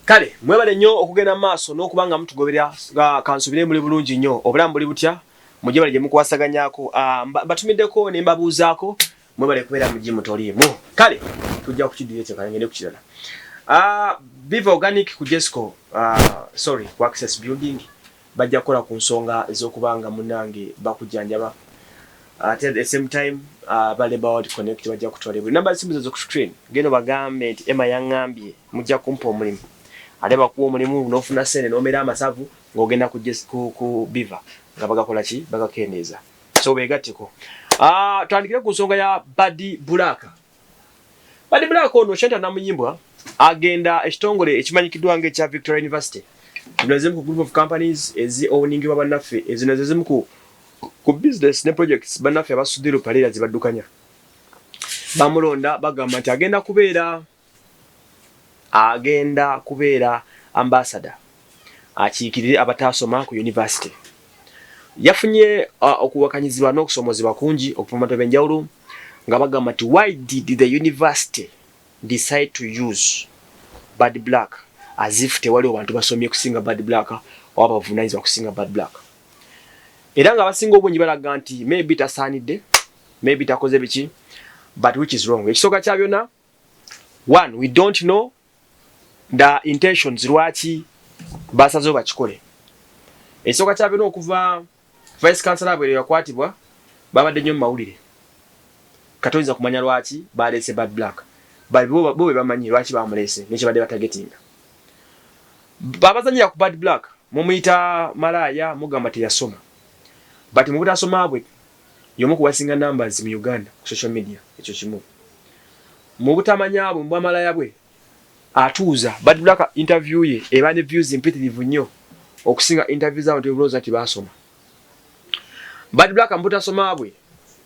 kale mwebale nnyo okugenda mu maaso n'okuba nga mutugobera ah, kansubire muli bulungi nnyo obulamu buli butya mujje bale gye mukwasaganyako ah, batumiddeko ne mbabuuzaako mwebale kubeera mu jimu toliimu kale tujja kukiddira ekyo kale ngende ku kirala ah, viva organic ku jesco sorry ku access building Bajja kukola ku nsonga ez'okuba nga munnange bakujjanjaba ate at the same time aba Labour World Connect bajja kutwala ebweru. Nnamba z'essimu zeezo ku screen. Genda obagambe nti Emma yang'ambye mujja kumpa omulimu. Ate bakuwa omulimu n'ofuna ssente n'omera amasavu ng'ogenda ku biva nga bagakola ki? Bagakendeeza. So beegatteko. Tutandikire ku nsonga ya Bad Black. Bad Black ono Shanta Namuyimbwa agenda ekitongole ekimanyikiddwa nga ekya Victoria University zino zimu ku group of companies ezi owuningibwa bannaffe ezino ze zimu ku ku business ne projects bannaffe abasudiru paleera ze baddukanya bamulonda bagamba nti agenda kubeera agenda kubeera ambasada akiikirire abataasoma ku yunivasite yafunye uh, okuwakanyizibwa n'okusoomozebwa kungi okuva mu bantu ab'enjawulo nga bagamba nti why did the university decide to use bad black as if tewaliwo bantu basomye kusinga bad black oba bavunaanyizibwa kusinga bad black era nga abasinga obungi balaga nti maybe tasaanidde maybe takoze biki but which is wrong ekisooka kya byonna one we don't know the intentions lwaki basazewo bakikole ekisooka kyabena okuva vice councilor abwere yakwatibwa babadde nnyo mumawulire katoyinza kumanya lwaki baleese bad black bo bebamanyi lwaki bamuleese nekyebadde batagetinga babazanyira ku bad black mumuyita malaaya mugamba teyasoma but mubutasoma bwe Y'omu ku basinga numbers mu Uganda ku social media ekyo kimu. Mu butamanya bwe, mu bwamalaya bwe, atuuza Bad Black interview ye eba ne views mpitirivu nnyo okusinga interview z'abantu be bulooza nti baasoma. Bad Black mu butasoma bwe,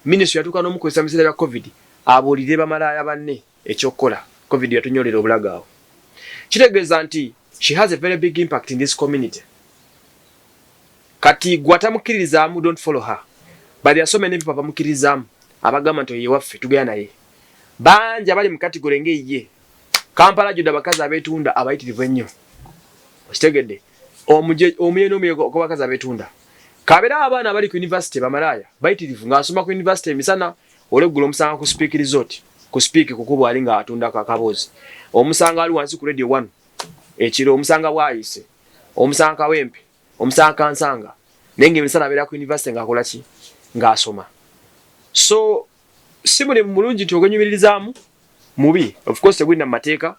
Ministry yatuuka n'omukozesa mu biseera bya Covid abuulirire bamalaaya banne. Ekyokukola, covid yatunyolera obulago awo. Kitegeeza nti she has a very big impact in this community. Kati gwe atamukiririzaamu don't follow her. But there are so many people abamukiririzaamu abagamba nti oyo yewaffe tugenda naye. Bangi abali mu category nga eyiye. Kampala judde abakazi abetunda abayitirivu ennyo. Okitegedde? Omuje omuye n'omuye gw'abakazi abetunda. Kabera abaana abali ku university bamalaaya bayitirivu ng'asoma ku university emisana Olweggulo omusanga ku Speke Resort ku Speke kukubwa ali nga atunda kakaboozi. Omusanga ali wansi ku Radio One ekiro, omusanga Bwaise, omusanga Kawempe, omusanga Kansanga naye nga emisana abeera ku university nga akola ki nga asoma. So si buli mulungi nti ogwenyumiririzaamu mubi of course tegulina mu mateeka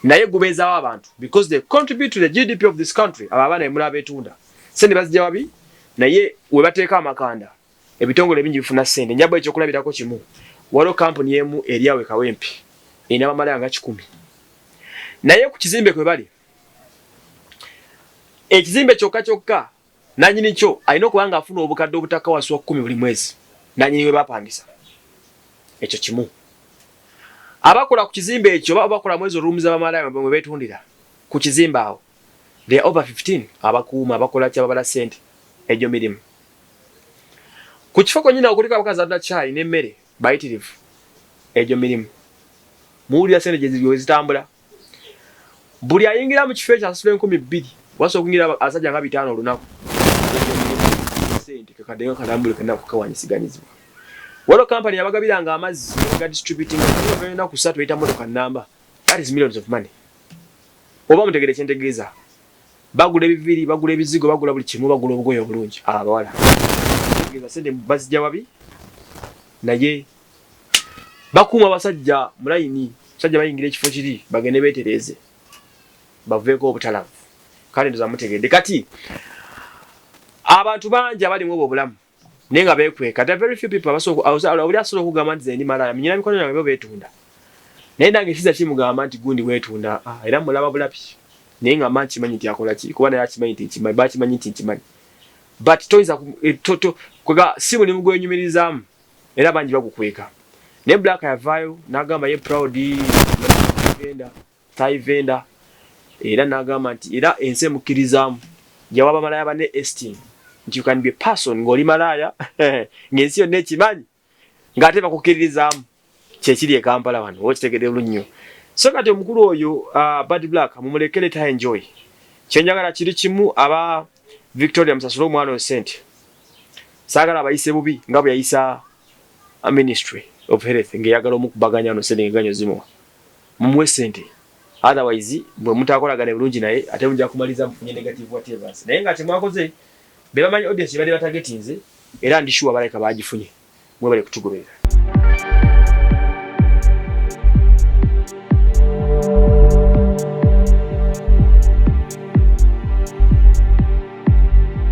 naye gubeezaawo abantu because they contribute to the GDP of this country abo abaana bemula abeetunda sente bazijja wabi naye we bateeka amakanda ebitongole bingi bifuna ssente njaba ekyokulabirako kimu waliwo kampuni emu eri awe kawempe erina bamalaya nga kikumi naye ku kizimbe kwe bali ekizimbe kyokka kyokka nanyini kyo alina okuba nga afuna obukadde obutaka wansi wa kumi buli mwezi nanyini we bapangisa ekyo kimu abakola ku kizimbe ekyo baba bakola mwezi oluumu za bamalaya mwe betundira ku kizimbe awo the over 15 abakuuma abakola kyababala ssente egyo mirimu ku kifo kwenyini awo kuliko abakazi atunda caayi n'emmere bayitirivu egyo mirimu muwulira sente gyezitambula buli ayingira mu kifo ekyo asasula enkumi bbiri wasa okuyingira abasajja nga bitaano olunaku sente kakadenga kalambule kena kukawanyisiganyizibwa waliwo kampani yabagabiranga amazzi ga distributing enaku satu eyita motoka namba that is millions of money oba mutegere kyentegeeza Bagula ebiviri, bagula ebizigo, bagula buli kimu, bagula obugoye obulungi abo abawala. Kitegeeza sente bazijja wabi naye bakuuma abasajja mu layini, abasajja bayingira ekifo kiri bagende beetereeze baveeko obutalavu. Kale ndoza mutegedde kati abantu bangi abalimu obwo obulamu. naye nga bekweka the very few people abasobola oli asobola okugamba nti zendi malaaya minyina mikono gyange bo betunda naye nange kiza kimugamba nti gundi wetunda ah, era mulaba bulabi naye nga manyi kimanyi nti akola ki kuba naye akimanyi nti nkimanyi bakimanyi nti nkimanyi but toyinza eh, kwega si mulimu gwenyumirizaamu era bangi bagukweka naye black yavaayo nagamba ye proud genda Thai vendor era nagamba nti era ensi emukkirizaamu yawa bamalaaya banne esteem nti you can be a person ng'oli malaaya ng'ensi yonna ekimanyi ng'ate bakukkiririzaamu kyekiri e Kampala wano oba okitegedde bulungi nnyo so kati omukulu oyo uh, Bad Black mumuleke leta enjoy kyenjagala kiri kimu aba Victoria musasule omwana oyo sente saagala abayise bubi nga bwe yayisa uh, ministry of health ng'eyagala omukubaganya no sente ngeganyo zimuwa Mumuwe sente otherwise bwemutakolagane bulungi naye ate muja kumaliza mufunye negative whatevers naye nga kyemwakoze bebamanyi audience gyebadde batagetinze era ndi sure balabika bagifunye mwebale kutugoberera.